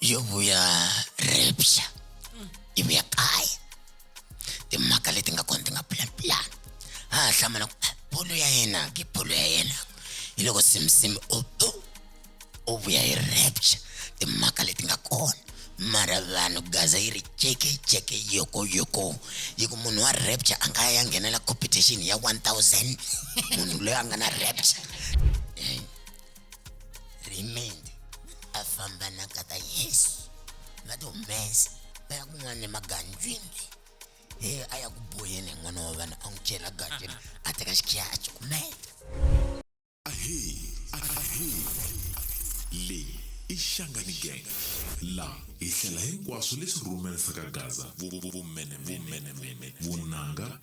yo vuya repya yi vuya kaya timhaka leti nga kona ti nga plan plan ha ha hlamala ku "Ah, bolo ya yena ke bolo ya yena hi loko simsim u u u vuya hi repya timhaka leti nga kona mara vanhu gaza yi ri jeke jeke yoko yoko yi ku munhu wa repya a nga ya nghenela competition ya 1000 munhu loyi a nga na repya remained a famba na kata yesu va ti humesa va ya kun'wana emagandzwini he a ya ku boyeni hi n'wana wa vanhu a n'wi chela gandzwini a teka xikhiya a cukumeta leyi i xangani gang laha hi hlela hinkwaswo leswi rhumerisaka gaza vumene vumene vunanga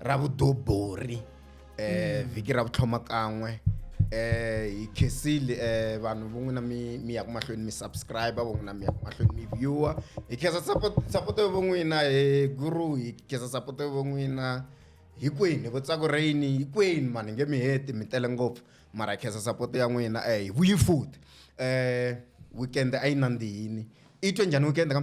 ra vudobori eh mm. vhiki ra vutlhoma kan'we eh hi khesile eh vanhu vo n'wina mi mi ya ku mahlweni mi subscriber vo n'wina mi ya ku mahlweni mi viewer hi khensa support support vo n'wina he guru hi khensa support vo n'wina hikwini vo tsako rain hikwini mani nge mi heti mi tele ngopfu mara hi khensa support ya n'wina eh hi vuyi futhi eh weekend a yi nandzihini i twe njhani weekend ka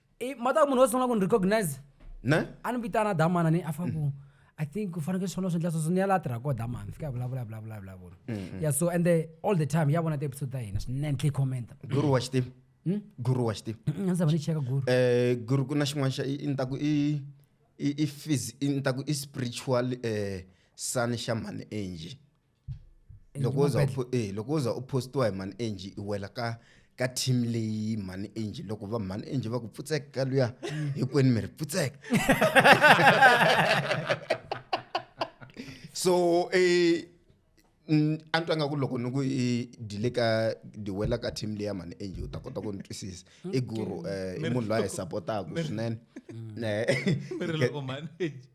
Eh, mata munhu wose ungaku ni recognize ne a ni vitana damana ni a faku i think u fanekele swona swi endla sweswo ni ya laha tirhaka koho damana fika ya vulavula vulavula vulavula ya so and the all the time ya vona ti-episode ta hina swinene tlhe commenta guru wa xitivi guru wa xitivi a ndzi zava ni cheka guru eh guru ku na xin'wana xa i i ni ta ku i i i phys- i ni ta ku i spiritual eh sun xa mhani angie loko wo za u eh loko wo za u postiwa hi mhani angie i wela ka ka team leyi mhani angie loko va mhani angie va ku pfutseka ka luya mm. hinkwenu mi ri pfutseka so eh a ni twa nga ku loko ni ku i dile ka di wela ka team leya mhani angie u ta kota ku ni twisisa i guru um i munhu loyi a hi sapotaku swinene mm. eh.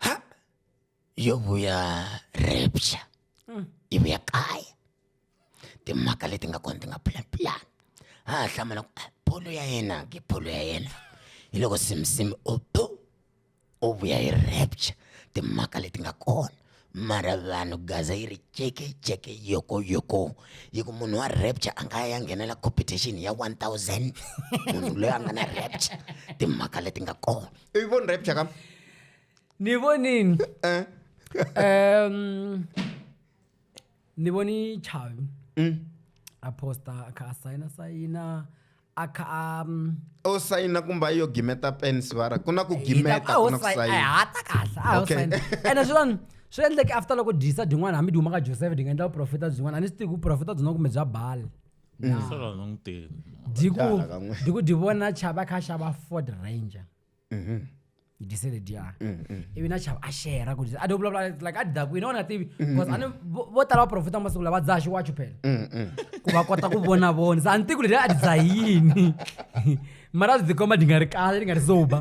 Ja, yo voy a repcha. Mm. Y voy a caer. timhaka leti nga kona ti nga pulapulani a ha hlamula ku ah, bolo ya yena ke bolo ya yena hi loko simisimi o bo o vuya hi rapture timhaka leti nga kona mara vanhu gaza yi ri ceke ceke yoko yoko yi ku munhu wa rapture a nga ya nghenela competition ya 1000 munhu loyi a nga na rapture timhaka leti nga kona i voni rapture ka ni vonini eh. um ni voni chavi mm. a posta a kha a sayina sayina akhamu o sayina kumbe a yo gimeta pen sivara ku na ku gimeta ku na ku sayinahata kahle a okay. ene swin'wana swi endleke after loko dyisa byin'wana hambi dyi huma ka joseph ndi nga endla vuprofeta byin'wana a ni swi tivi ku profeta byin'wana kumbe bya bali mm. dyi ku dyi vona chava kha xava ford ranger dise le dya ivi na chava a xerha ku a do vulavula like a daku yini a nga tivi because a ni vo vo tala vaprofeta masiku lawa va dzaha xiwacho phela ku va kota ku vona vona se a ni tivi ku leti a ti dzaha yini mara byi komba di nga ri kahle di nga ri sober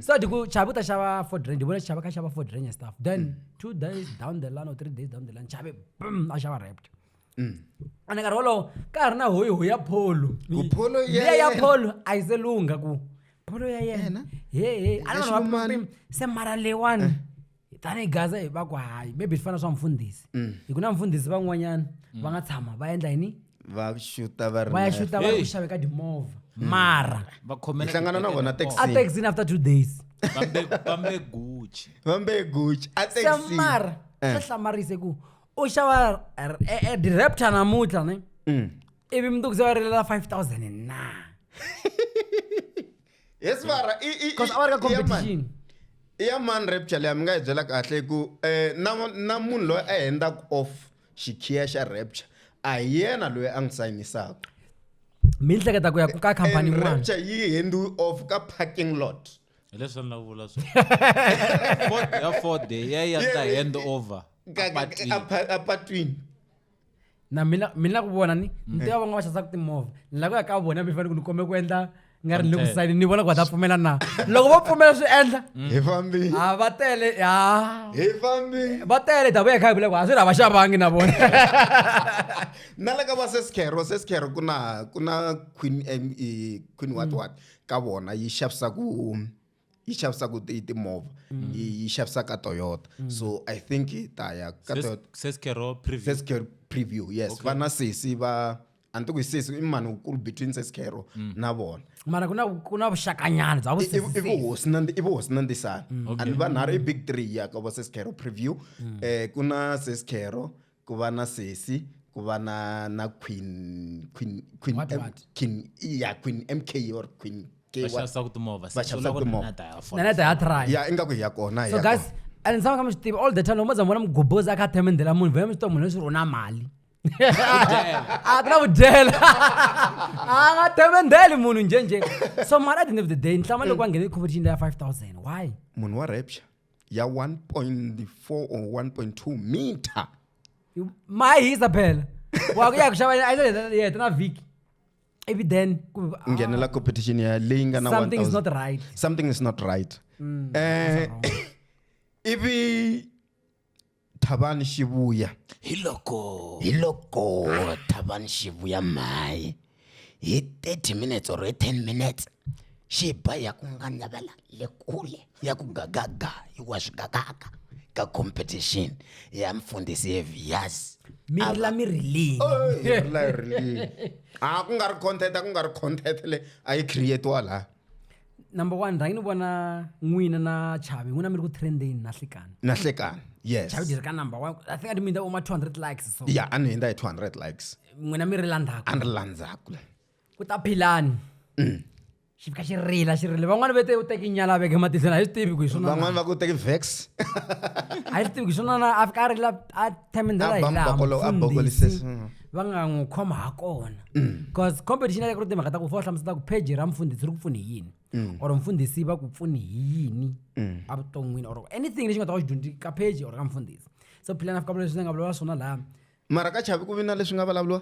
so di ku chavi u ta xava ford ranger vona chava ka xava ford ranger stuff then two days down the line or three days down the line chavi bum a xava rapt ene nkarhi wolowo ka ha ri na hoyiho ya pholo Ku pholo ya liya ya yena. pholo a yi se lungha ku pholo ya yena Yena? hehe a Ya ni vanhu va xilumani. pim- pim- se mara leyiwani tanihi gaza hi va ku hayi maybe swi fana swa mfundhisi hi ku na mfundhisi van'wanyana va nga tshama va endla yini va xuta va ri va ya na- xuta va ri Hey. ku xaveka timovha mara va khomela Nhlangano na vona taxi. a taxin after two days vambe gucci va mbe gucci a taxi. se mara Eh. swa hlamarisa ku u xava r- e- e- diraptor namuntlha ne Mm. ivi mundzuku se va rilela 5000 na yes mara i- i- i- because a va ri ka i ya mani? competition i ya mani rapture leyi mi nga yi byela kahle hi ku um na na munhu loyi a hendaka off xikhiya xa rapture a hi yena loyi a n'wi sayinisaka mi hleketa ku ya ku ka khampani And yin'wana rapture yi hendiwe off ka parking lot hi leswi a ni lavula ya ford ya ya ta hand over apatwini na mina mina ku vona ni ni tiva van'wana va xavisaka timovha ni lava ku ya ka vona mi fanele ku ni kombe ku endla nga ri ni ku sayini ni vona ku va ta pfumela na loko va pfumela swi endla mm. hi fambi a va tele ya hi fambi va tele ta vuya kha hi vule ku a swi ri a va xavangi na vona na le ka va seskhero seskhero ku na ku na queen eh, queen what mm. what mm. ka vona yi xavisaka yi xavisaka timovha mm. yi xavisaka toyota mm. so i think hi ta ya ka toyotasescare preview yes va na sesi va a ni ti ku hi sesi i mani wukulu between sescaro mm. na vona mara ku na ku na vuxakanyana bya vusiivi vuhosi na i vuhosi na ndisana a ni vanharhu i big three ya ka va sescaro preview um ku na sescaro ku va na sesi ku va na na queen queen queen What, M- what? queen ya queen mk or queen K va what? xavisa ku timovha Va xavisa ku timovha. nana ta ya try ya ingaku hi ya kona hi so ya guys kona. a ni tshama ka mi swi tiva all the time loko mo za mi vona mugobozi a kha a themendela munhu vona mi swi tiva munhu leswi rona mali a ti na vudyela a nga themendeli munhu njhenjhe so mara at the end of the day ni hlama loko a nghene competition leya 5000 why munhu wa rapture ya 1.4 or 1.2 meter mai hisa phela waku ya ku xava a yi ta heta na vhiki ivi then ku ah, nghenela competition ya leyi nga na something is 1000 not right something is not right Mm, eh ivi thavani xivuya hi loko hi loko thavani xivuya mhayi hi 30 minutes or hi 10 minutes xi ba ya ku nga navela le kule ya ku gagaga yi wa swi gagaga ka competition ya mfundhisi yeviyazi mi rila mi rilini a ku nga ri content a ku nga ri content le a yi creatiwa laha number one rhangi ni vona n'wina na chavi n'wina mi ri ku trendeni na hlekani na hlekani yes chavi ri ka number one i think ati mindza uma 200 likes so ya a ni hundza hi 200 likes n'wina mi ri landzaka a ni ri landzaka ku ta philani mm. xi fika xi rila xi rile van'wana va te u teke nyala veke matihlweni a yi swi tivi ku hi swona van'wana va ku teke vex a yi swi tivi ku hi swona na a fika a rila a time ndlela A hi ba laha mbokolo- a bokolise- mufundhisi mm. va nga n'wi khoma ha kona bcause competition ya le ku ri timhaka ta ku fa u hlamusela ku page ra mufundhisi ri ku pfune hi yini or mufundhisi va ku pfune hi yini evuton'wini or anything lexi nga ta va xi dyondzi ka page or ka mufundhisi so philana fika leswi ndzi nga vulavula swona laha mara ka chavi ku vi na leswi nga vulavuriwa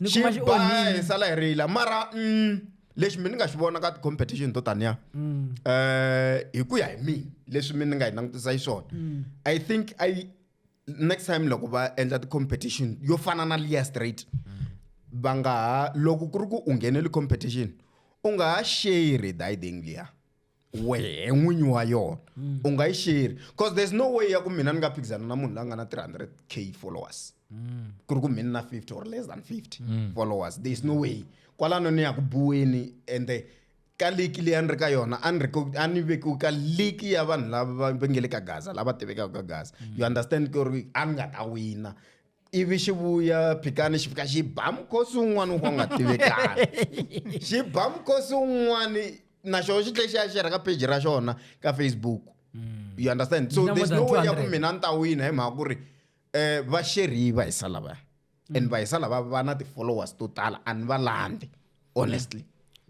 Ni xi kuma xi ba onhile. hi sala hi rila mara mm, lexi mi ni nga xi vona ka ti-competition to taniya um hi ku ya hi mina leswi mi ni nga yi langutisa xiswona i think i next time loko va endla ti-competition yo fana na liya straight va nga ha loko ku ri ku u nghenele competition u nga ha share diding liya wehe n'winyi wa yona mm. u nga yi sheri because there's no way ya ku mina ni nga phikizana na munhu la nga na 300 k followers mm. ku ri ku mina na 50 or less than 50 mm. followers there's no way kwalano ni ya ku buweni ende ka liki leyi a ni ri ka yona a ni ri a ni vekiwi ka liki ya vanhu lava va nge le ka gaza lava tivekaka ka gaza you understand ku ri a ni nga ta wina ivi xi vuya phikani xi fika xi ba mukhosi un'wana u nga tivekaka xi ba mukhosi un'wana na xona xi tlhe xi ya xerha ka page ra xona ka facebook hmm. you understand so there's no way ya ku mina ni ta wina hi mhaka ku ri um va xerhi va hisa lavaya and hmm. va hisa lava va na ti-followers to tala a ni va landzi honestly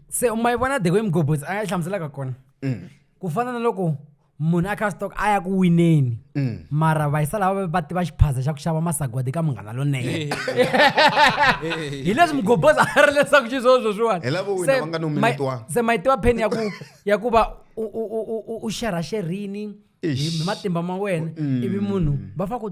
se u ma yi vona the way mgobotsi a nga yi hlamuselaka kona mm. ku fana na loko munhu a kha stock a ya ku wineni mm. mara vayisala va va tiva xiphaza xa ku xava masagwadi ka munghana lonene hi leswi mugobos a ri leswaku xiswoo sweswiwanise ma yi tiva pheni ya ku ya ku va u xerhaxerhini hi matimba ma wena mm. ivi munhu va fa ku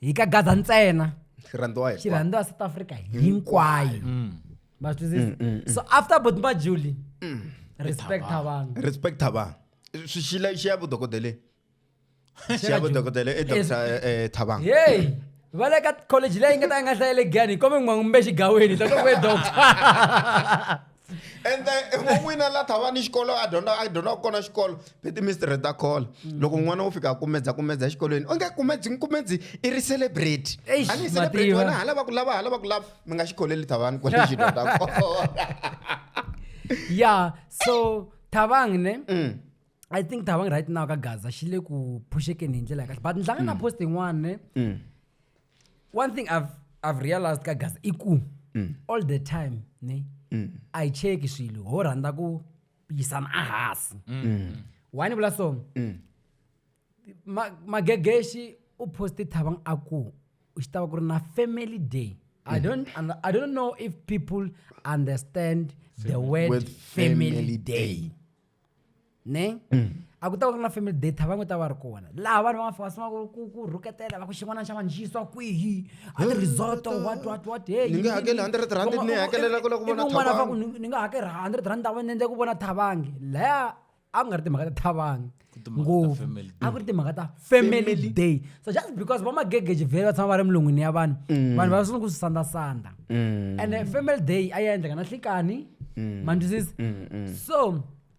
hi ka gaza ntsena xirhandziwa hi xirhandziwa south africa hinkwayo mm. ma swi twisisa mm, so after boti ba juli respect thabang respect thabang swi xila xi ya vudokodeleni xi ya vudokodela i dr thabang yeyi va le ka college leyi nga ta yi nga hlayele gani hi kome n'wangu mbe xigaweni ta loko e doctor ende n'wan'wina la thava ni xikolo a dyondza a dyondzaka kona xikolo be timistrhe ta khola loko n'wana wo fika a kumedza kumedza exikolweni onge kumedzi kumedzi i ri celebrate Eish, a ni yi celebrate Mativa. wena hala va ku lava hala va ku lava mi nga xi kholeli thavani kwale xi dyondza kona ya so thavang ne Mm. i think thavang right now ka gaza xi le ku phuxekeni hi ndlela ya kahle but ni hlangana na post yin'wana ne Mm. one thing i've, I've realized ka gaza i ku mm. all the time ne mm. i check swilo ho rhandza ku yisana a hansi mm. why ni vula so mm. magegeshi ma u poste thabang a ku u xi tava ku ri na family day I mm. don't I don't know if people understand the word family, family day. day. ne mm. a ku ta va ku ri na family date va n'wi ta va ri kona laha vanhu va nga sungula ku ku rhuketela va ku xin'wana xa vanhu xi yisiwa kwihi a ti resort what what what hey ni nge hakeli 100 rand ni hakelela ku la ku vona thabangi va ku ni nga hakeli 100 rand ni endle ku vona thabangi laya a ku nga ri timhaka ta thabangi ngopfu a ku ri timhaka ta family day so just because va magegeji vhele va tshama va ri emilon'wini ya vanhu mm. vanhu va sungula ku swi sandasanda mm. and family day a yi endleka na hlikani mm. mandwisisi so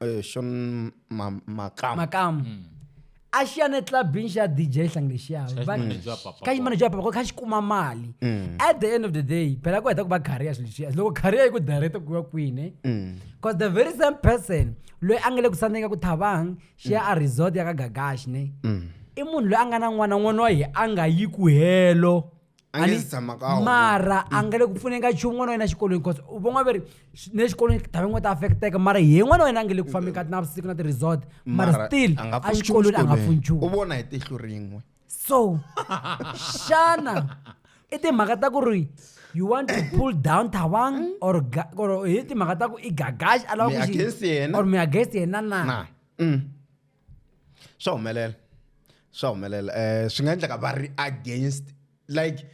eh, Sean Ma- Makam. makamu Mm. a xiya na etlabini xa dj hlangi lexiya Cash Va- manager wa Papa cash Pop. manager wa papa Pop, kha xi kuma mali Mm. at the end of the day phela ku heta ku va career swilo leswiya loko career yi ku direct ku ya kwini Mm. because the very same person loyi a nga le ku sandzeni ka ku thabang xiya a resort ya ka gagashi ne Mm. i munhu loyi a nga na n'wana n'wana wa ye a nga yi ku helo A nge Ani- se tshama ka wona. mara a nga le ku pfuneni ka nchumu n'wana wa yena exikolweni because u von'wa va ri swi- ni le xikolweni ta van'we ta affecteka mara hi n'wana wa yena a nge le ku fambeni ka navusiku na ti-resort mara Mara still a nga pfuni nchumu exikolweni a nga pfuni exikolweni. nchumu u vona hi tihlo rin'we so xana i timhaka ta ku ri you want to pull down thabang or ga- or hi timhaka ta ku i gagaxi a lava Mi ku xi- against yena? or mi against yena na na Mm. swa humelela swa humelela um swi nga endleka va ri against like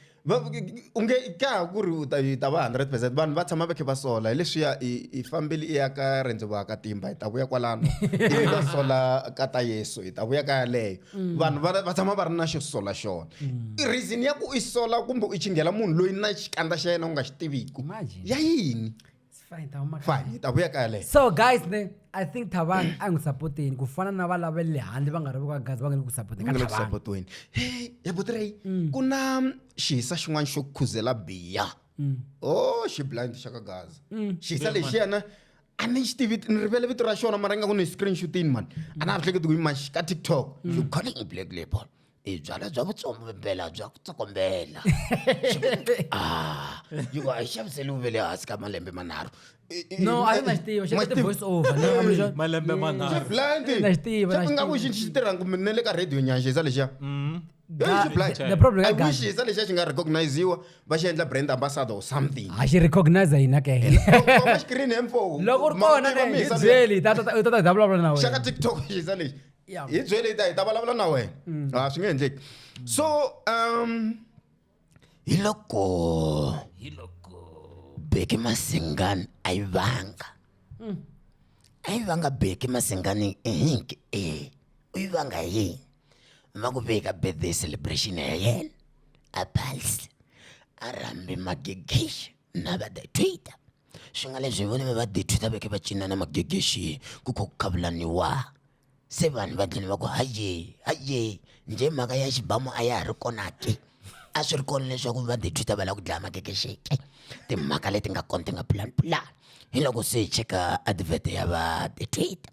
u nge ka ha ku ri u ta yi ta va hundred percent vanhu va tshama va khe va sola hi leswiya i fambile i ya ka rendzo va ka timba hi ta vuya kwalano ivi va sola ka ta yesu hi ta vuya ka yaleyo mm. vanhu va tshama va ri na xo sola xona mm. reason ya ku i sola kumbe u chinghela munhu loyi na xikandza xa yena u nga xi tiviku ya yini fine hi ta vuya kaya leyo so guys ne i think thabang a n'wi sapoteni ku fana na va lava le handle va nga ri ka gazi va nga le ku sapotenisapotiweni hey ya botirei mm. ku na xihisa xin'wana xo khuzela biya mm. o oh, xi blind xa ka gazi mm. xihisa lexi yena a ni xi tivi ni rivele vito ra xona mara ingaku ni screenshotini mani a na ha hleketi ku yi maxi ka tiktok you calling a black label i byalwa bya vutsombela bya ku tsokombela ah yi ku a yi xaviseliwi ve le hansi ka malembe manharhu no a yi na xi tiva xi na ti-voice over no, I'm sure- malembe manharhu blind Xi na xi tiva, na xi nga ku tiva. xi xi tirhanga kumbe na le ka radio nyanxisa lexiya Hey, xi blind Mm. the problem i ka wish Ghana. xisa lexiya xi nga recogniziwa va xi endla brand ambassador or something a xi recognize hina ke Komba xikirini hemfo loko u ri kona ne hi byeli ta ta- ta ta hi ta vulavula na xaka wena tiktok xisa lexi Ya. hi byele hi ta hi ta vulavula na wena Mm. a swi nge endleki so um hi loko hi loko beke masingani a yi vanga Mm. a yi vanga beke masingani ehinki e u yi vanga yini ma ku veka birthday celebration ya yena a phalsi a rhambe magigixa na va the twitter swi nga leswi vona va the twitter veke va cina na magegexi ku kho ku khavulaniwa se vanhu va dlini va ku haye haye nje mhaka ya xibamu a ya ha ri kona ke a swi ri kona leswaku va the twitter va lava ku dlaya magegexi ke timhaka leti nga kona ti nga pulani pulani hi loko se hi cheka advert ya va the twitter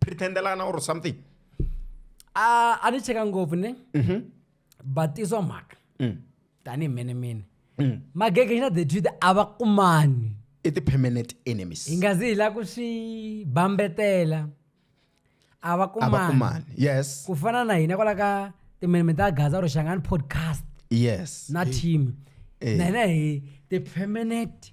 pretendelana or something a a ni cheka ngopfu ne Mhm. batiswa mhaka Mm. tanihi mene mene Mm. magege xina the truth a va kumani i ti-permanent enemies hi nga zi hi la ku swi bambetela a va a va kumani kumani yes ku fana na hina kwala ka timeneme ta gaza or xangani podcast yes na team Eh. na hina hi ti-permanent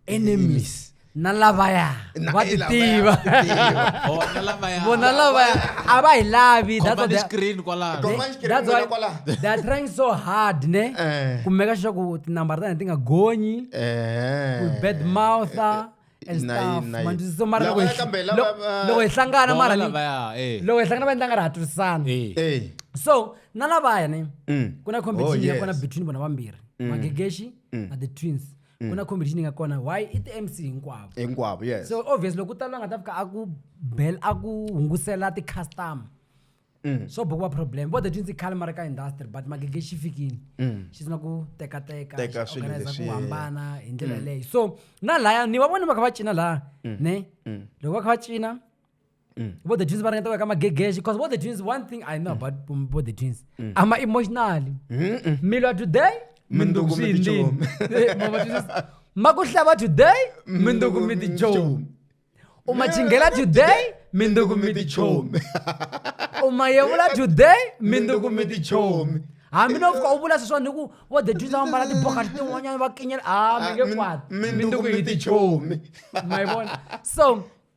enemies na lavaya Na- va hi ti lavaya tiva va ti tiva. Oh, na lavaya. vona lavaya a va hi lavi that's Khoma what ni they- screen kwalano. Khoma- Command screen that's wena why kwala. they are trying so hard ne Eh. ku meka sure ku tinambara ta hina ti nga gonyi Eh. ku bad mouther and Na yi- stuff na yi. manjisi so mara loko Lavaya hi- kambe lava- lo- va- loko hi hlangana Bona mara ni- lavaya, eh. loko hi hlangana va endla nga ri ha twisisana Eh. Eh. so na lavaya ne Mm. ku na Oh, competition ya yes. kona between vona vambirhi magegeshi na the twins mm. ku na competition yi nga kona why i ti-mc hinkwavo hinkwavo yes so obvious loko ku tala nga ta fika a ku bel a ku hungusela ti-customer Mm. so bokuva problem vo the twinsi khale ma ri ka industry but magege xi fikile mm. xi sina ku tekateka organize ku hambana hi ndlela mm. leyi so na laya ni va voni va kha va cina laya ne loko va kha va cina vo the twins va ringeta ku veka magegexe because vo the twins one thing i know about um, vo the twins ama emotionally mi lwa today Mindzuku mi tichomi. mindzukumitinini ma ku hlava today mindzuku mi tichomi u ma chingela today mindzuku mi tichomi u ma yevula today mindzuku mi tichomi hambi no fika u vula sweswa ni ku vo the twins va mbala tibokati tin'wanyana va kinyela a mi nge kwati mindzuku mi tichomi ma yi vona so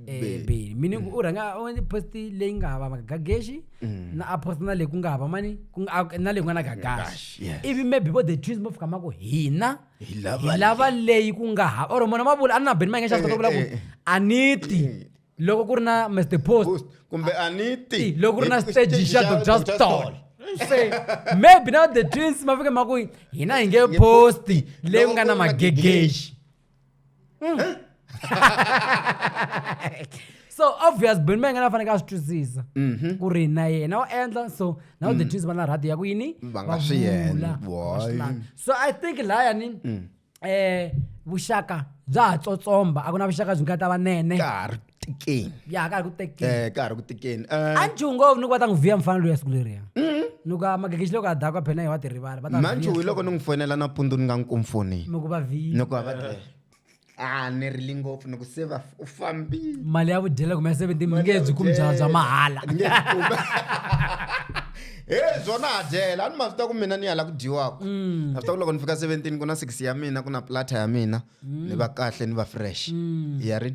beli meaning u rhanga u post leyi nga hava magagageshi na a post na leyi ku nga hava mani ku nga- a- na leyi ku nga na gagashi Yes. ivi maybe vo the twins vo fika ma ku hina Hi lava hi lava leyi ku nga hava or mona ma vula a ni na beni ma nge xavisa vula ku eh, eh. a ni ti loko ku ri na mr post Post, kumbe aniti Hey, loko ri na stage xa dr stall se maybe na the twins ma fike ma ku hina hi nge posti leyi ku nga na magegexi so obvious beni va yi nga na faneke a swi twisisa Mhm. ku ri na yena u endla so na u detwisi va na rhadi ya ku yini Mm. Va nga swi vula, endli, va boy. swi lavi. so i think layani Mm. um vuxaka bya ha tsotsomba a ku na vuxaka byi nga ta vanene Ka ha ri tikeni ya ka ha ri ku tekeni eh ka ha ri ku tikeni eh a njungo ni ku va ta n'wi vhiya mufana loyi a siku leriya ni ku a magegexi loko a daka phena hi wa tirivala va ta n'wi manju vhiya. hi loko ni n'wi fonela nampundzu ni nga n'wi kumfoni mi ku va vhiya ni ku va va te a ni rili ngopfu ni ku se va u fambile mali ya vudyela kumbe ya 17 mi nge byi kumi byala bya mahala Nge byi kumi. he byona ha dyela a ni ma swi ta ku mina ni ya la ku dyiwaka Mm. a swi ta ku loko ni fika 17 ku na six ya mina ku na plata ya mina ni va kahle ni va fresh ya ri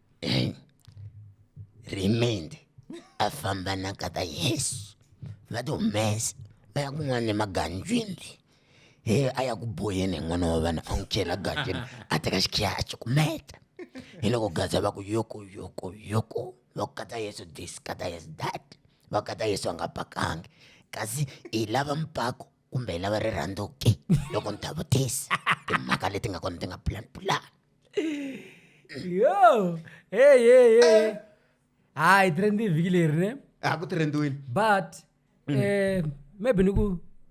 eh, remained a famba na kata yesu va ti humesa va ya kun'wana emaganjwini he a ya ku boyeni hi n'wana wa vanhu a n'wi chela ganjwini a teka xikhiya a cukumeta hi loko gaza va ku yoko yoko yoko va ku kata yesu this kata yesu that va kata yesu a nga pakangi kasi hi lava mpako kumbe hi lava rirhandzu ke loko ni ta vutisa timhaka leti nga kona ti nga plan plan yo hey hey hey hayi trendi vhiki leri ne a ku trendiwini but mm. eh maybe ni ku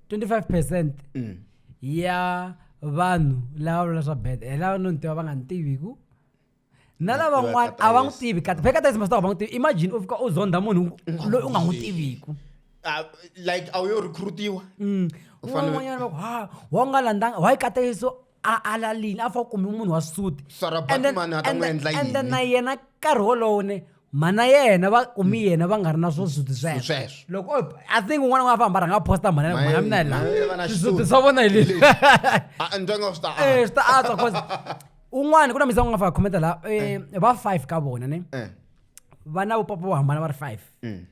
25 percent mm. ya vanhu lava vula swa bad hi lava no ni tiva va nga ni tiviku na lavan'wana a va n'wi tivi kati pheka tayisi masita va n'wi tivi imagine u fika u zondha munhu loyi u nga n'wi tiviku ah, like a wu yo recruitiwa mm. un'wanyana va ku ha wa nga landzanga wa yi katayiso a alalini a fa kumi munhu wa suti and then na yena nkarhi wolowone mhana yena va kumi mm. yena va nga ri na swo swizuti sweswo loko i think un'wana n'wana famba rhanga posta mhana mhana mina hi laha swizuti swa vona hi leswi eh, swi ta antswa cause un'wana ku na misa ku nga fa khometa laha eh, eh. va five ka vona ne va na vupapa vo hambana va ri five mm.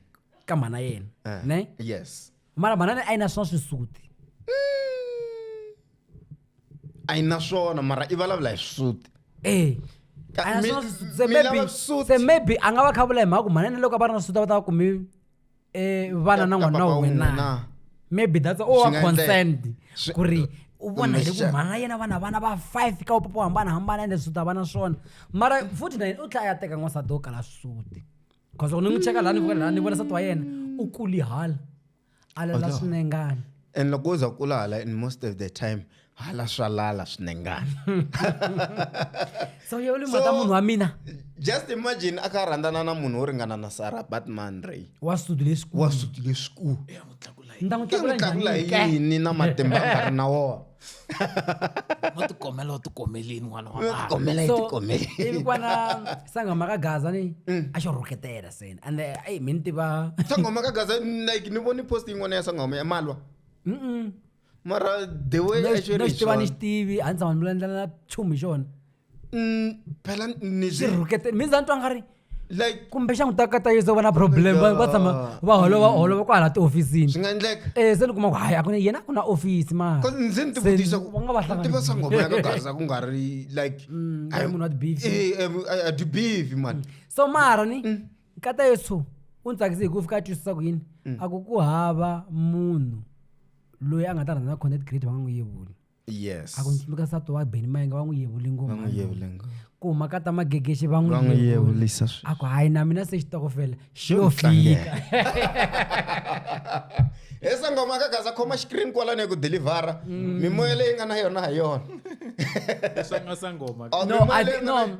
ka mhana yena ne yes mara banana a yi na swa swisuti a yi na swona mara i vulavula hi swisuti e Ka- a yi na mi- swa swisuti se mi lava maybe swisuti. se maybe a nga va kha vula hi mhaka ku manene loko a va ri na swisuti a va ta va kumi um vana na Ka- ka n'wana papa wa wun'we wena na. maybe that's o Swi wa nga endleka. concerned Swi- ku ri u vona hi le ku Kumbexana. mhana yena vana vana va five ka upapa wo hambanahambana ende swisuti a va na swona mara futhi na yena u tlhela a ya teka n'wansati wo kala swisuti cause loko ni n'wi cheka laha ni vukela laha ni vona sati wa yena u kuli hala a lela swinengana and loko u za kula hala in most of the time hala swa lala swinengana so yewu limata munhu wa mina just imagine a kha rhandzana na munhu wo ringana na sara batman ray wa suti lesikuwa suti lesikuwa ni ta n'wi tlakula yini na matimba a nga ri na wona mo tikomela o tikomelini n'wana wa vanhu. komela yi So, tikomele ivi kwana sangoma ka gaza ni a xo rhuketela seni and eh, ayi mi ni tiva sangoma ka gaza like ni voni post yin'wana ya sangoma ya malwa Mm-mm. mara the way No, a xi no ri xi tiva ni xi xona tivi a ni tshama ni vulavula na chumu hi xona Mm, phela ni ni swi swi rhukete mi za ni twa nga ri like kumbe xa n'wi ta kata yeso va na problem va va tshama va holova holova kwahala tihofisini swi nga endleka um se ni kuma ku hayi a ku yena a ku na ofisi mara Cause ndzi ni Se tivutisa va nga va hlanganisa. kutiva sangoma ya ka gaza ku nga ri like Mm, I- munhu wa ti-beef. Eh, eh, I- I do beef mani so mara ni Mm. nkata yesu u ni tsakise hikuva fika a twisisa ku yini Mm. a ku ku hava munhu loyi a nga ta rhandza na content create va nga n'wi yevuli yes a ku ndzi tsundzuka nsati wa beni mayenge va n'wi yevule ngoma va n'wi yevule ngoma ku huma ka ta magegexe va n'wi yevulisa a ku hayi na mina se xitokofela xi yo fika he sangoma ka gaza khoma xikrini kwalani hi ku delivhara mm. mimoya leyi nga na yona ha yona oh, no, I, no,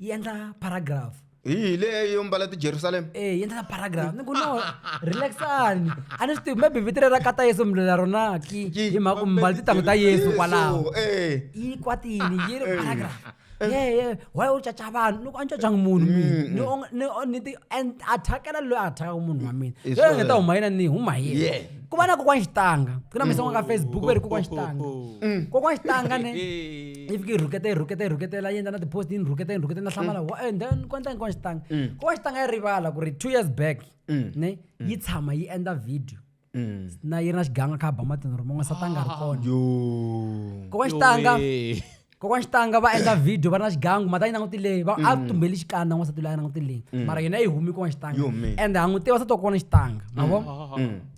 yi endla paragraph hi hi leyi yo mbala tijerusalema e yi endla paragraph ni ku no relaxani a ni swi tivi maybe vito ra kata yesu mlula rona ki hi mhaka ku mbala titangu ta yesu kwalaho eh. yi kwatini yi ri eh. paragraph eh. ye ye why u caca vanhu loko a ni cacanga munhu mina mm, mm. ni ti athakela loyi a athakaka munhu wa mina loyi nga ta huma yina ni huma yena ku va na kokwana xitanga ku na misongo ka mm. facebook va ri kokwana xitanga kokwana xitanga ne yi fike yi rhuketa yi rhuketa yi rhuketela yi endla na ti-post yi ni rhuketa yi ni rhuketa na hlamala wa and then kwanta hinkwaxi tanga ko va xi tanga yi rivala ku ri two years back ne yi tshama yi endla video na yi ri na xiganga kha ba matini ri man'we sata nga ri kona yo kokwana xitanga Yowee. kokwana xitanga va endla video va ri na xigangu mata yi langutile leyi va a tumbeli xikandza n'wansati loyi a langutile leyi mara yona yi humi kokwana xitanga Yo, man. ende ha n'wi tiva sati wa kokwana xitanga ma vo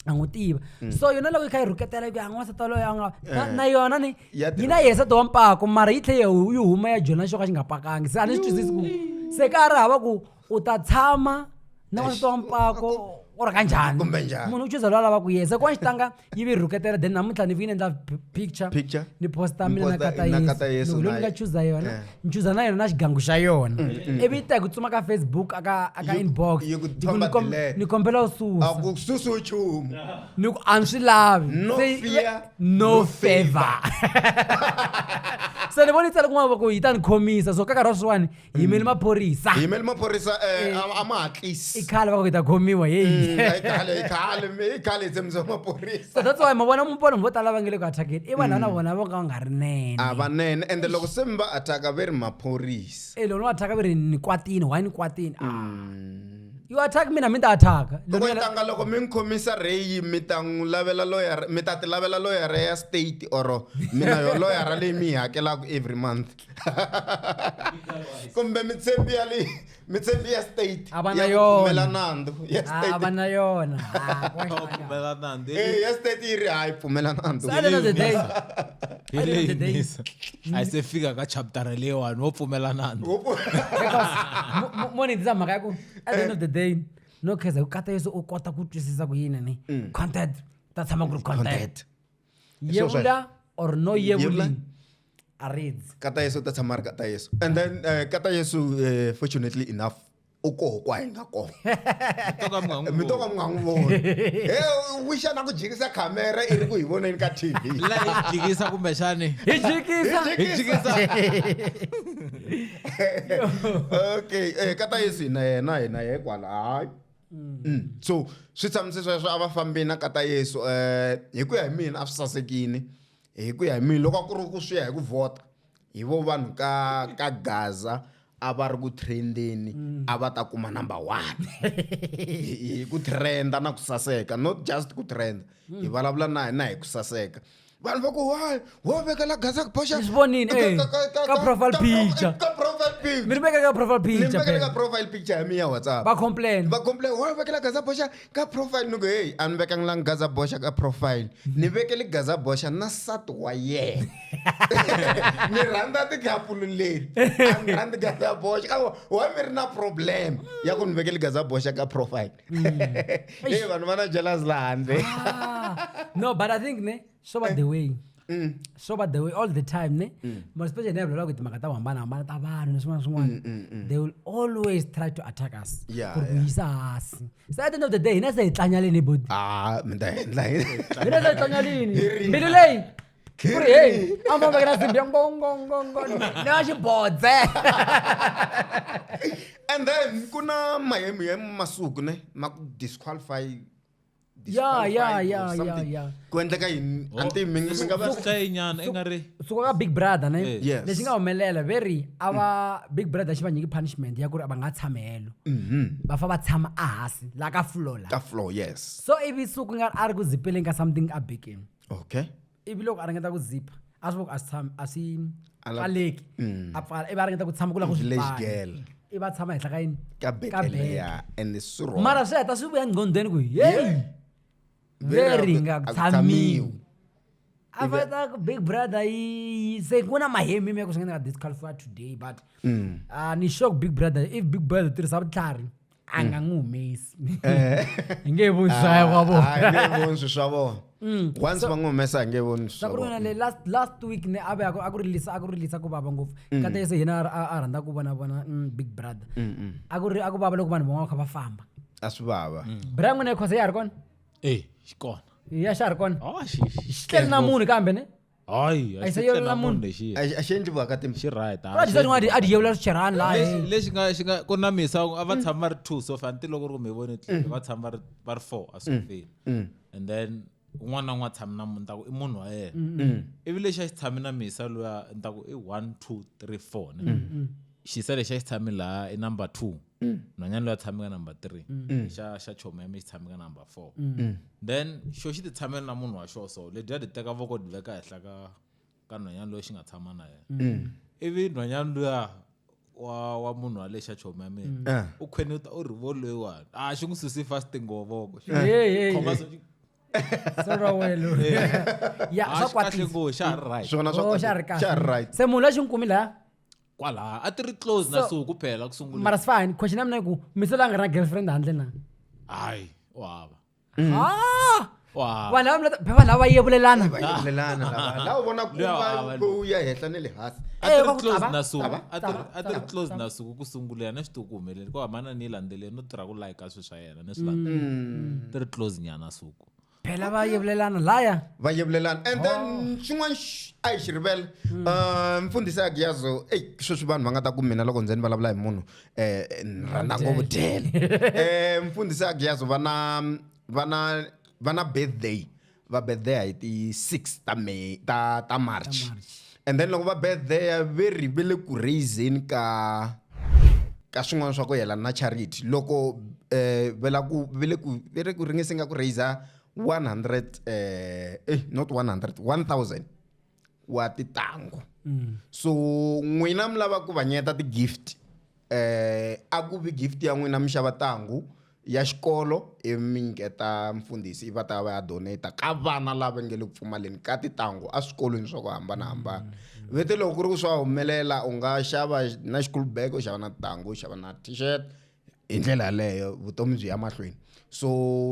a n'wi tiva so yona loko yi kha yi rhuketela yi ku ya n'wansati waloyo a nga na- na yona ni Ya yi na yesa to wa mpako mara yi tlhe yi yi huma ya jona xo ka xi nga pakangi se a ni swi twisisi ku se ka a ri hava ku u ta tshama na wansati wa mpako u ri ka njhani Kumbe njhani. munhu u chuza loyi a lava ku yesa ku wa xitanga yi vi rhuketela then namuntlha ni vi ni endla p- picture Picture. ni posta Ni mina na posta- kata na Kata Yesu yesu loko ni na nga ye- chuza yona Eh. ni chuza na yona na xigangu xa yona ivi yi ta hi ku tsuma ka facebook aka aka Yi- inbox yi ku Yi ku ni thomba kom- delete. ni kombela u susa a ku susi nchumu ni ku a ni swi lavi No Se yi- fear. no favor se ni voni tsale kun'wana va ku yi ta ni khomisa so ka nkarhi wa sweswiwani hi yimeli maphorisa hi yimeli maphorisa um a ma hatlisi i khale va ku hi ta khomiwa heyi khale hi tshembisa maphorisa so that's why ma vona mupona vo tala va nge le ku attackeni i vanhu va na mm. vona vo ka va nga ri nene a va nene ende loko se mi va attacka ve ri maphorisa e loko ni va attacka ve ri ni kwatini why ni kwatini a ah. mm. you attack mina mi ta attack loko yi tanga loko mi n'wi khomisa reyi mi ta n'wi lavela loyara mi ta ti lavela loyara ya state or mina yo loyara leyi mi yi hakelaka every month kumbe mitshembi ya leyi mitshembi ya state a va na yona nandzu ya state a va na yona pfumela nandzu ya state yi ri hayi pfumela nandzu hi leyi nisa a yi se fika ka chaptara leyiwani wo pfumelanana mone ndzi mhaka ya ku at the end of the day no kheza ku kata yesu u kota ku twisisa ku yini ni mm. content ta tshama ku ri content yevula or no yevuli a reads kata yesu ta tshama ri kata yesu and then uh, kata yesu uh, fortunately enough u koho kwa hi nga kona mi to ka mi nga n'wi voni he wixa na ku jikisa khamera i ri ku hi voneni ka tv jikisa kumbexani hi jikisa okay eh, ka ta yesu hina yena hina ye kwala hayi mm. mm. so swi tshamise sweswo a va fambini na ka ta yesu um hi ku ya hi mina a swi sasekini hi ku ya hi mina loko a ku ri ku swi ya hi ku vhota hi vo vanhu ka ka gaza a va ri ku trendeni mm. a va ta kuma number one hi ku trenda na ku saseka not just ku trenda mm. hi vulavula na na hi ku saseka vanhu va ku why wo vekela gaza ku boxa swi vonile eh, ka profile picture ka profile picture mi ri veka ka profile picture mi veka ka profile picture ya mi ya whatsapp va complain va complain wo vekela gaza boxa ka profile ni ku heyi a ni vekangilangi gaza boxa ka profile ni vekele gaza boxa na sati wa yena ni rhandza tikapulu leti a ni rhandzi gaza boxa ka wa mi ri na problem ya ku ni vekele gaza boxa ka profile mm. e vanhu va na jealous laha handle ah. no but i think ne swo va the way mm. so but they will all the time ne mm. but especially ne vulela ku timhaka ta ku hambanahambana ta vanhu ni swin'wana swin'wana mm, mm, mm. they will always try to attack us yeah, ku ri ku yeah. yisa hasi so at the end of the day hina se hi tlanyalini bodi ah, mi ta endla hina se hi tlanyalini mbilu leyi ku ri heyi a ma vekela simbi ya ngongongongo ni ya xibodze and then ku na mahemu ya masiku ne ma ku disqualify ya ya ya ya ya ku endleka yini oh. anti mi mi nga va ka yinyana i nga ri suka ka big brother ne eh. lexi nga humelela ve ri a va mm. big brother xi va nyiki punishment ya ku ri a va nga tshame helo mm-hmm. va fa va tshama a hansi la ka floor la ka floor yes so ivi suku nga a ri ku zipeleni ka something a bikini okay ivi loko a ringeta ku zipa a swi voko a swi tshami a swi A la- pfaleki Mm. a pfala ivi a ringeta ku tshama ku la ku swi Village pfala. girl. ivi a tshama henhla ka yini ka beke beke. leya and swi wrong. mara swi heta swi vuya nqhondweni ku yeyi Very veri well, nga a ku tshamiwi tshamiwi. a Ivi- fata ku big brother yi se ku na mahemi mi ya ku swi nga ni nga disqualify today but Mm. a ni sure ku big brother if big brother u tirhisa vutlhari a nga n'wi humesi eh. hi nge voni swaya wa vonange voni swi swa vona mm. once va n'wi humesa hi nge voni swa vona le last last week ne a ve a ku rilisa a ku rilisa ku vava ngopfu mm. ka tese hina a rhandza ku vona vona mm, big brother a ku ri a ku vava loko vanhu van'wana va kha va famba a swi vava bra n'wina yi khosa ya ha ri kona e xi kona ya xa ha ri kona oh, xi tleli na munhu kambe ne hayi A yi se xi yevula munhu. lexiya a xi- a xi endli vaka timbi xi right a xi- adi adi yevula swicherhani laha lexi eh. lexi nga xi nga ku na misa a va tshama va ri two so fanti loko ri ku mi voni tliliniki va tshama va ri va ri four a swi feli Mm, and then un'wana na un'wana tshami na munhu ni ta ku i munhu wa yena mm. ivi lexi a xi tshami na misa loya ni ta ku i one two three four ne xisa lexi a xi tshami laha i number two mm. nhwanyana loyi a tshame ka number three mm. xa xa choma ya mi xi tshame ka number four mm. then xo xi ti tshamela na munhu wa xo so lebyi a ti teka voko ti veka henhla ka ka nhwanyana loyi xi nga tshama na yena ivi nhwanyana luya wa wa munhu wa le xa choma ya mina ah. u khweni u ta u ri vo loyiwani a ah, xi n'wi susi fast ngovoko khoma so se munhu la xi n'wi kumi laya kwalaha a ti ri close na So- suku phela ku sungula mara sifani question ya mina i ku mise la nga ri na girlfriend handle na hayi u hava Ah! u hava vanhu lava mi leta- vanhu lava yevulelana vayevulelana lava la u vona ku Luya va- va- u ya henhla ne le hansi a ti Eh, ri va ku close tava, na suku tava, a ti ri- tava, a ti ri tava, close tava. na suku ku sungulela na xituku humeleli ku hambana ni yi landzeleni no tirha ku layika swilo swa yena ni swi landzelela ti ri close nyana suku phela va yevelelana laya va yevelelana and then oh. xin'wana a hi xi rivele hmm. uh, mfundhisi ya giyazo eyi sweswi vanhu va nga ta ku mina loko ndzeni vulavula hi munhu um ni rhandza ngopfu dyele um mfundhisi ya giyazo va na va na va na birthday va birthday hi ti-six ta may ta ta march and then loko va betheya ve ri ve le ku raiseni ka ka swin'wana swa ku yelana na charity loko um eh, ve la ku ve le ku ve le ku ringese nga ku raiser one hundred um eh, eh not one hundred one thousand wa titango mm. so n'wina mi lava ku vanyeta ti-gift Eh, a ku vi gift ya n'wina mixava tangu ya xikolo i minyiketa mfundhisi i va ta va ya donata ka vana lava nge le ku pfumaleni ka titangu eswikolweni swa ku hambanahambana mm. vete loko ku ri ku swa humelela u nga xava na xikulu bag u xava na titangu u xava na t-shirt hi ndlela yaleyo vutomi byi ya mahlweni so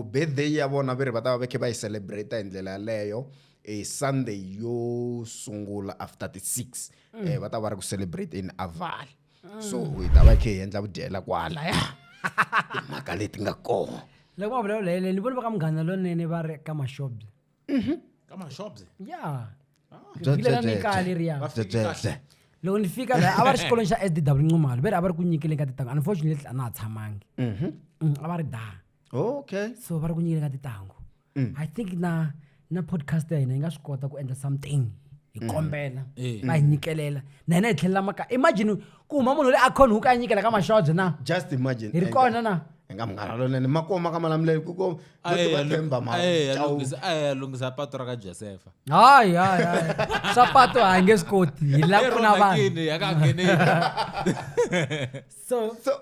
birthday ya vona ve ri va ta va va khe va yi celebrate hi ndlela yaleyo e sunday yo sungula after ti-six mm. eh, va ta va ri ku celebrate in aval so u yi ta va yi kha yi endla vudyela kwalaya timhaka leti nga kona loko va vulavula hi ni vona va ka munghana lonene va ri ka mashobye mhm. ka mashobye ya ah. mikaya leriya loko ni fika la a va ri xikolweni xa sdw ncumalo ve ri a va ri ku nyikeleni ka titango unfortunately a na ha tshamangi mhm. mm, a va ri da okay so va ri ku nyikeleni ka titango mm. i think na na podcast ya hina yi nga swi kota ku endla something hi mm. kombela eh. va hi nyikelela na hina hi tlhelela makaya imagine ku huma munhu loyi a khonhuka a nyikela ka maxojo na just imagine hi ri kona na nga munghana lonene makoma ka malamulelo kukoathemba malunghisa pato ra ka josefa hayi hayi hayi swa pato hayi nge swi koti hi la pfuna vanhuso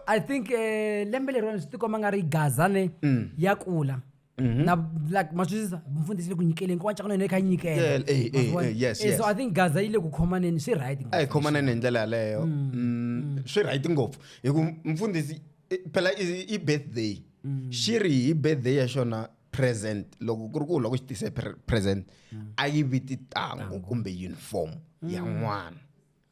i think um lembe leriwani swi tikomba nga ri gazane mm. ya kula Mhm. na like ma swi twisisa mfundhisi le ku nyikeleni kokwani cakana yona yi kha yi nyikela Yeah, eh, eh, Ma swi vona? eh, yes, Eh, so yes. i think gaza yi le ku khomaneni swi right a hi khomaneni hi ndlela yaleyo Mm, swi right ngopfu hi ku mfundhisi i- phela i i birthday xi ri hi birthday ya xona present loko ku ri ku u lava ku xi tise pre- present a yi vi titangu kumbe uniform ya n'wana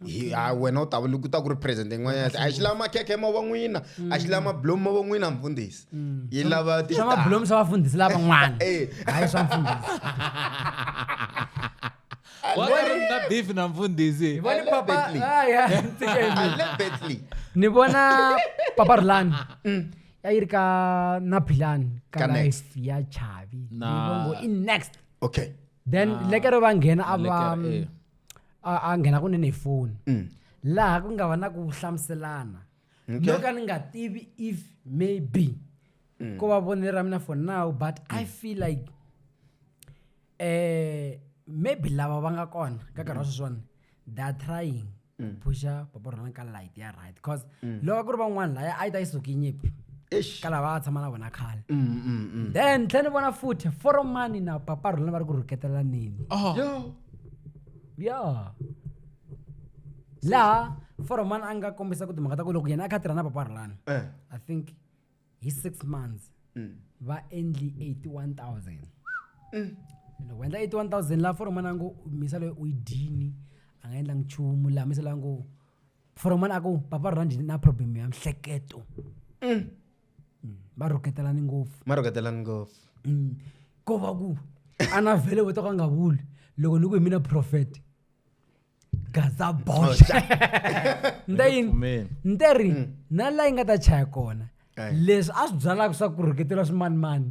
hi a wena u ta ku ta ku ri president yin'wanyana a xi lava makhekhe ma va n'wina a xi lava mablomu ma va n'wina mfundhisi mm. yi lava swa mablomu swa vafundhisi lavan'wana eh. hayi swa mfundhisi na beef na mfundhisi ni vona papa rulani mm. ya yi ri ka na bilani ka life ya chavi ni vongo i next okay then ah. lekere va nghena a va eh. a a nghena kunene hi foni Mm. laha ku nga va na ku hlamuselana Okay. no ka ni nga tivi if maybe Mm. ko va vonelo ra mina for now but i feel like eh maybe lava va nga kona ka nkarhi wa Mm. sweswiwani they are trying ku pusha papa rona ka light ya right because Mm. loko ku ri van'wana laya a yi ta yi suki nyimpi Eish. ka lava a tshama na vona khale Mm, mm, mm. then tlhe ni vona futhi foromani na papa rona va ri ku rhuketelaneni Oh. Yo. ya laha foroman a nga kombisa ku timhaka ta ku loko yena a kha a tirha na papa rulani Eh. i think hi six months Mm. va endli 81000 loko va endla 81000 laha foromana a ngo misa loyi u yi dyini a nga endlangi nchumu laha misa loyi a ngo foromana a ku papa rhandi na problem ya mihleketo va rhuketelani ngopfu ma rhuketelani ngopfu Mm. ko va ku a na vhele vo to ka nga vuli loko ni ku hi mina prophet gaza bosh ni ta yini Pfumeli. ni te ri na laha yi nga ta chaya kona Ayi. leswi a swi byalaka swa ku rhuketeriwa swimanimani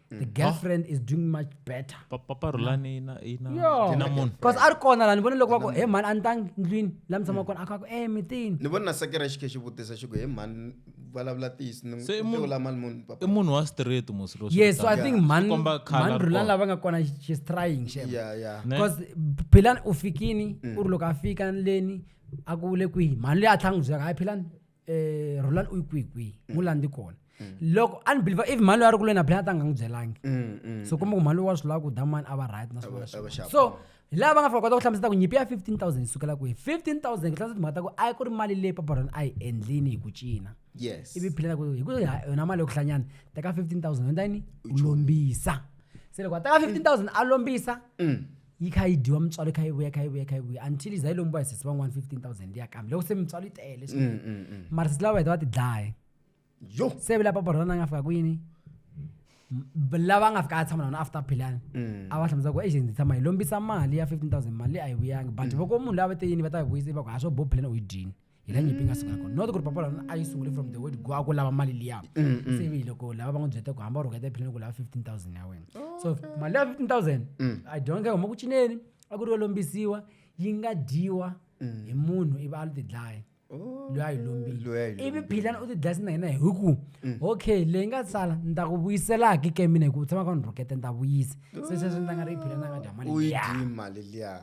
the girlfriend is doing much better Pa- papa rulani ina ina Yo. ina munhu cause a ri kona la ni vone loko va ku he mhani a ni tangi ndlwini la mi tshama kona a kha ku e mitini ni vona na sekera xi khe xi vutisa xi ku he mhani vulavula tiyisi ni Se i munhu- vula mali munhu i papa munhu wa street musiro yes so i think mhani komba color mhani rulani kona. lava nga kona she- she's trying shem ya ya Ne? because philani u fikini u ri loko a fika leni a ku le kwihi mhani leyi a tlhanga n'wi byaka hayi philani eh Roland u kwi kwi mm. mulandi kona mm. loko a ni believe if mhani loyi a ri kule na plan ta nga n'wi byelangi mm, so kumbe ku mhani loyi wa swi lava ku damani a va right na swin'wana so hi laha va nga fika kota ku hlamusela ku nyimpi ya 15000 yi sukela kwihi 15000 ku hlamusela timhaka ta ku a ku ri mali leyi paparona a yi endlini hi ku cina yes ivi phileta ku hi ku yona mali yo ku hlanyana teka 15000 endla yini u lombisa se loko a teka 15000 a lombisa yi kha yi dyiwa mutswalo yi kha yi vuya yi kha yi vuya yi kha yi vuya until za yi lombiwa hi sesi van'wana 15000 ya kambe loko se mutswalo yi tele swinene Mm, mm, mm. mara sesi lava va heta va ti dlaye yo se vila papa rona nga fika kwini M- b- lava nga fika a tshama na vona after philani Mm. a va hlamusela ku agent tshama hi lombisa mali ya 15000 mali a yi vuyangi but voko munhu lava te yini va ta yi vuyisa va ku ha swo bo philani u yi dyini hi la nyimpi nga suka kona not ku ri papa lana a yi sungule from the word go a ku lava mali liya mm, mm. se vi loko lava va n'wi byete ku hamba u rhuketa ephileni ku lava 15000 ya wena so mali ya 15000 mm. i don't care huma ku cineni a ku ri yo lombisiwa yi nga dyiwa hi munhu ivi a lu tidlaya oh. loyi a yi lombile ivi philana u tidlaya sina hina hi ku okay leyi nga sala ni ta ku vuyiselaki ke mina hi ku tshama ka ni rhukete ni ta vuyisa se sweswi ni ta nga ri yi philana nga dya mali liya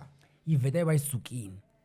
yi vheta yi va yi sukile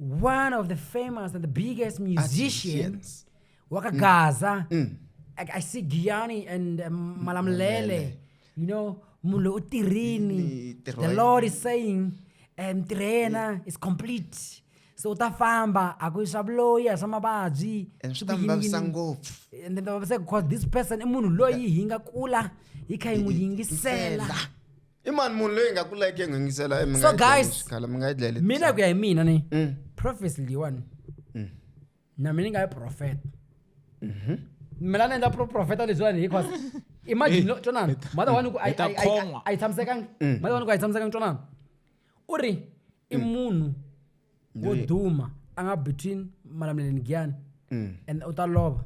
one of the famous and the biggest musicians wakagaza mm. mm. I, i see giani and um, malamlele you know mulo utirini the lord is saying um tirena is complete so u ta famba a ku swa vuloyi a swa mavabyi and swi ta mi vavisa ngopfu and then ta vavisa because this person i munhu loyi hi nga kula hi kha hi n'wi yingisela i mani munhu loyi hi nga ku like mi so guys mina ku ya hi mina ni mm. prophecy leyiwani mm. na mina ni nga yi profeta mhm. mina ni endla profeta lebyiwani because imagine twanana mother wani ku a yi tshamisekangi mm. mother wani ku a yi tshamisekangi twanana u ri i munhu wo Loyi- duma a nga between malamuleni giyani Mm. and u ta lova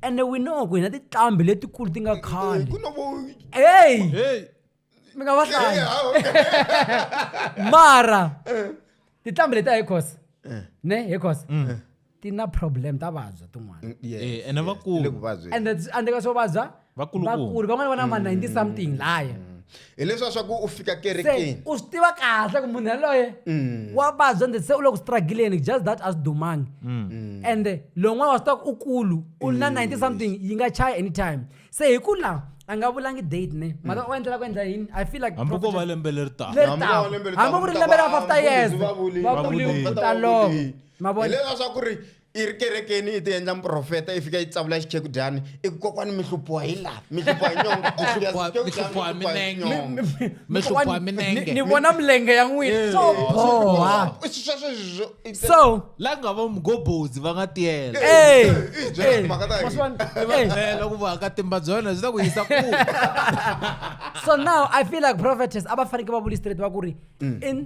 and we know ku hina tiqambi letikulu ti nga khale ku no vo hey hey mi nga va hlayi mara tiqambi leti a hi khosa ne hi khosa ti na problem ta vabya tin'wana Mm, yes, Eh, ene yes, vakulu. ti le ku vabyeni. and that's- and ka swo vabya Vakulukumba. vakulu van'wana va na ma 90 something laya hileswa swa ku u fika se kerekeni u swi tiva kahle ku munhu yaloye wa vabya ende se u le ku struggleni just that a swi dumangi and lowun'wana wa swi tiva ku u kulu u na 90 something yi nga chaya anytime se hi ku la a nga vulangi date ne mara u endlela ku endla yini i feel like hambi ko va lembe leri taka Leri Hambi taka. wo lembe ri Hambi taka, ku ri u ta lembe ra va- 50 years, vavulisi va va vuli, vuli, va ta va ta lova. vuli. hi leswa swa ku ri i ri kerekeni i ti endla muprofeta i fika yi tsavula xichekidyani i ku kokwani mi hluphiwa hi laha mi hluphiwa hi nyongoni vona milenge ya n'winaso la nga va mugobozi va nga tiyela ku vakatimba bya wena byi ta ku yisa ku so now i feel like prophetess a va fanekele va vuli straight va ku ri mm. in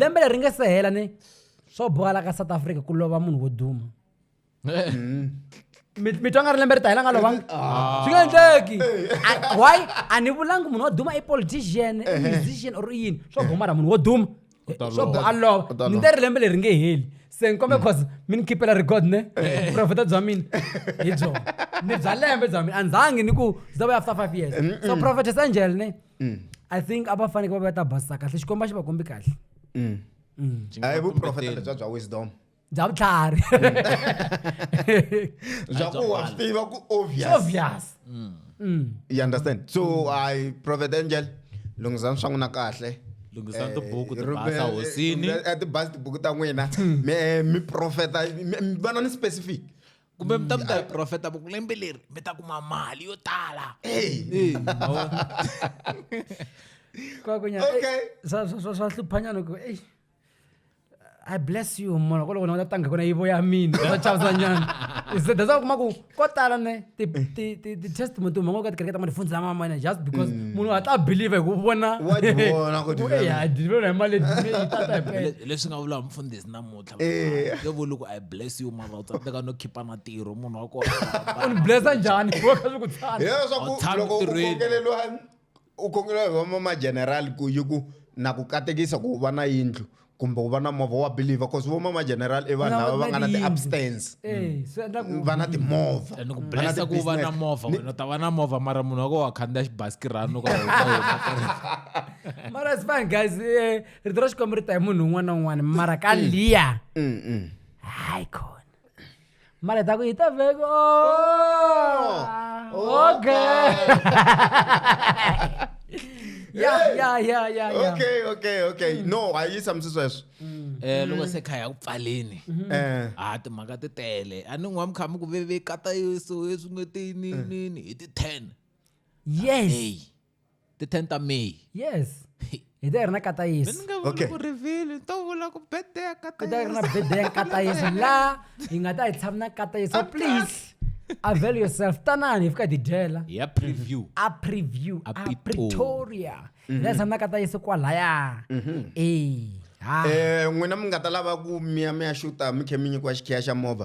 lembe leri nga se hela ni swo bohala ka south africa ku lova munhu wo duma mm. mi twa nga ri lembe ri ta hela nga lovanga ah. swi nga endleki why a ni vulangi munhu wo duma i politician i musician or yini swo goma ra munhu wo duma swo bo a lova ni te ri lembe leri nge heli se ni kombe cause mi ni khipela record ne profeta bya mina hi byona ni bya lembe bya mina a ndzangi ni ku byi ta vuya after five years so mm, mm. prophetess angel ne Mm. i think a va faneke va va ta basisa kahle xikomba xi va kombi kahle Mm. Mm. Byi nga a hi va vuprofeta kumbeteli. lebya bya wisdom bya vutlhari bya ku wa swi tiva ku obvious obvious Mm. you understand so i prophet angel lunghisani swa n'wina kahle Lunghisani tibuku, Eh, tibasa rhumbe- hosini. rhumbe- eh, tibasa tibuku ta n'wina mi eh, mi profeta mi- mi- va na ni specific kumbe mi ta mi ta hi profeta va ku lembe leri mi ta kuma mali yo tala Eh, ma vona? kwakunyana Okay. swa hluphanyana ku ei i bless you mona ko loko ni nga ta tanga kona yivo ya mina swa chavuzanyana se that's why u kuma ku ko tala ne ti- ti- ti- ti-testimony ti huma ngo ka tikereke ta madifunzi lama mane just because munhu a ta believe hi ku vona Wa ti vona ku ti- Ku, "Ei, ha deliver hi mali leyi, yi tata hi pele." Le- leswi nga vula mfundhisi namuntlha tala Eh. nge vuli ku i bless you mara u tsandzeka no khipa na tirho munhu wa kona u ni blessa njhani wo kha swi ku tsana hilero swa ku Tshama loko u ntirhweni. kongeleliwa u kongeleliwa hi vama magenerali ku yi ku na ku katekisa ku u va na yindlu kumbe u va na movha wa believer bcause vo mama generali i vanhu lava va nga na ti-abstance Eh, swi endla ku va na timovha and ku va na blessa ku va na ti-business. movha wena u ta va na movha mara munhu wa ko wa khandziya xibasikirani u ka mara it's fine guys eh, rito ra xikwembu ri ta hi munhu un'wana na un'wana mara ka liya Mm, mm. hayi khona mara hi ta ku hi ta vheko Oh, okay ya ya ya ya ya okay okay okay no a yi tshamisi sweswo um loko se kha ya ku pfaleni um a timhaka ti tele a ni n'wa mikhamu ku vevekata yeso eswin'wetini nini hi ti-ten yes eyi ti 10 ta may yes hi ta hi ri na katayisi ni nga vuli Okay. ku rivilo ni to vula ku birthday ya hi ta hi ri na katayisa bede ya katayisi laha hi nga ta hi tshami na katayisi so please avail yourself tanani hi fika hi ti dyela ya preview a preview A a Pretoria. pretoria hi ta hi tshami na katayisi kwalaya e ha um n'wina mi nga ta lava ku miya mi ya xuta mi khe mi nyikiwa xikhiya xa movha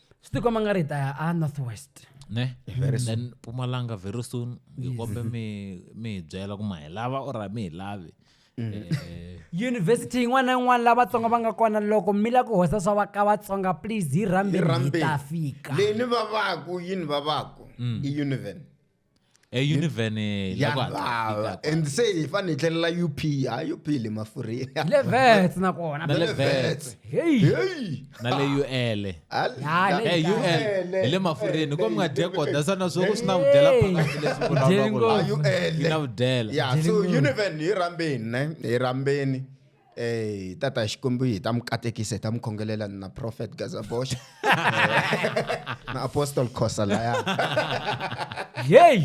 swi tikomba nga ri hi ta ya a north west ne Very soon. then pumalanga very soon ngikombe mi mi hi byela ku ma hi lava or a mi hi lavi Eh, yunivhesiti yin'wana na yin'wana la vatsonga va nga kona loko mi la ku hosa swa va ka vatsonga please hi rhambeni hi ta fika leni vavaku yini vavaku i univen eyunivheni ya la ku hatla hi fika lava kwala. and se hi fanele hi tlhelela up ha up le mafurheni le vets nakona na le Vets. vets heyi Hey! na le ul Al- Ya, le- Hey, ul Ele, hi le mafurheni ko mi nga dye koda sana swo ku swi na vudyela Hey. phakathi leswi Dyeni vulavulaka ngopfu. yi na vudyela ya so Jenny Moore. univheni hi rhambeni ne hi rhambeni Eh, tata hi xikwembu hi ta mi katekisa hi ta mi khongelela na prophet gazabosh na apostle khosa laya hey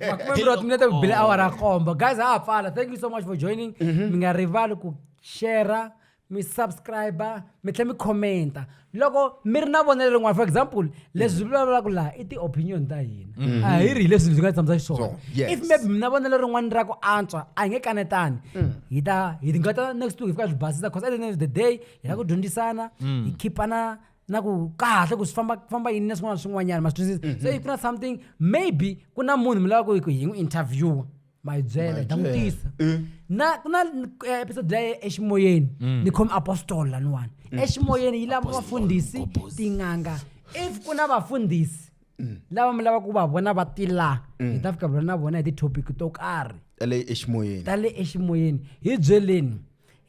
makume mbirhi minete ku bile awara ya komba guys ha ha pfala thank you so much for joining mi nga rivali ku share mi subscribe mi tlhela mi commenta loko mi ri na vonelo rin'wana for example leswi byi vulavulaka laha i ti-opinion ta hina mm-hmm. a hi ri hi leswi byi nga hi tshamisa xiswona if maybe mi na vonelo rin'wana ra ku antswa a hi nge kanetani mm. hi ta hi nga ta next week hi fika hi basisa because at the end of the day hi la ku dyondzisana mm. hi khipana na ku kahle ku swi famba famba yini na swin'wana na swin'wanyana ma swi twisisa mm-hmm. so if ku na something maybe ku na munhu mi lava ku hi n'wi interviewa my byela ta n'wi tisa Eh. na ku na eh, episode leyi eximoyeni Mm. ni khome apostol laniwani eximoyeni yi lava vafundhisi tin'anga if ku na vafundhisi Mm. lava mi lava ku va vona va ti laha hi ta fika vula na vona hi ti-topic to karhi ele eximoyeni ta le eximoyeni hi byeleni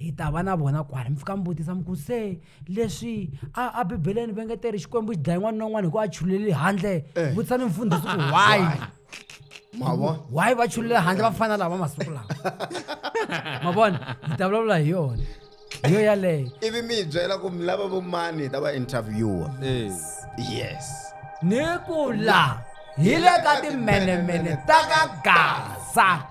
hi ta va na vona kwala mi fika mi vutisa mi ku se leswi a a bibeleni va ngeteri xikwembu xi dlaye n'wana na un'wana hi ku a chulele handle eh. vutisa ni mfundhisi ku why mavona why va chulele handle va fana lava masiku lawa mavona hi ta vulavula hi yona hi yo yaleyo ivi mi yi byela ku mi lava vo mani hi ta va interviewa eh. yes ni ku la hi le ka timenemene ta ka gaza